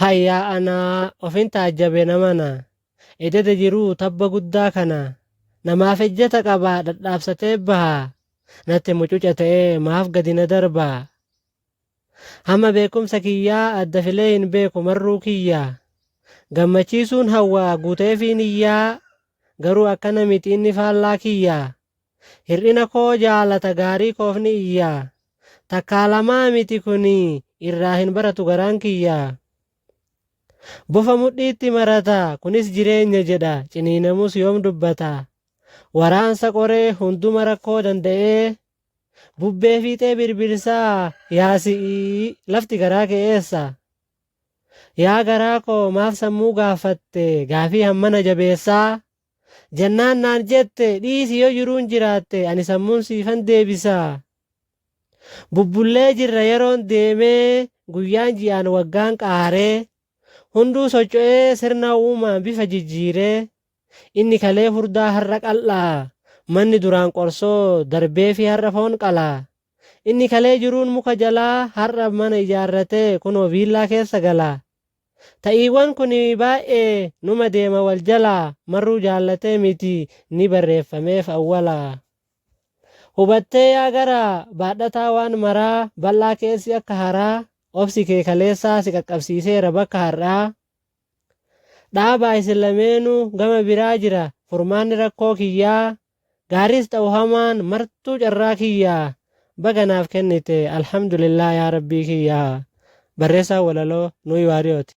Hayyaa anaa ofin taajjabe namana ededa jiruu tabba guddaa kana namaaf ejjeta qabaa dhadhaabsatee baha natti mucuca ta'ee maaf gadi na darba hamma beekumsa kiyyaa adda filee hin beeku marruu kiyya gammachiisuun hawwaa guuteefii niyyaa garuu akkana miti inni faallaa kiyya Hir'ina koo jaalata gaarii koof ni iyya. Takkaa lamaa miti kuni irraa hin baratu garaan kiyya. Bofa mudhiitti marata kunis jireenya jedha ciniinamus yoom dubbata. Waraansa qoree hunduma rakkoo danda'ee bubbee fiixee birbirsaa yaa si'ii lafti garaa kee eessa. Yaa garaa koo maaf sammuu gaaffatte gaafii hammana jabeessaa. jennaan naan jette dhiisi yoo jiruun jiraatte ani sammuun siifan deebisa. Bubbullee jirra yeroon deemee guyyaan ji'aan waggaan qaaree hunduu socho'ee sirna uumaan bifa jijjiiree inni kalee furdaa har'a qal'aa manni duraan qorsoo darbee fi har'a foon qalaa inni kalee jiruun muka jalaa har'a mana ijaarratee kunoo viillaa keessa galaa Ta'iiwwan kun baay'ee numa deema wal jala marruu jaallatee miti ni barreeffameef awwala. Hubattee yaa garaa baadhataa waan maraa bal'aa keessi akka haraa obsi kee kaleessaa si qaqqabsiiseera bakka har'aa. Dhaabaa isin lameenuu gama biraa jira furmaanni rakkoo kiyyaa Gaariis ta'u hamaan martuu carraa kiyya baga naaf kennite alhamdulillah yaa rabbii kiyya Barreessaan walaloo Nuyi Waariyooti.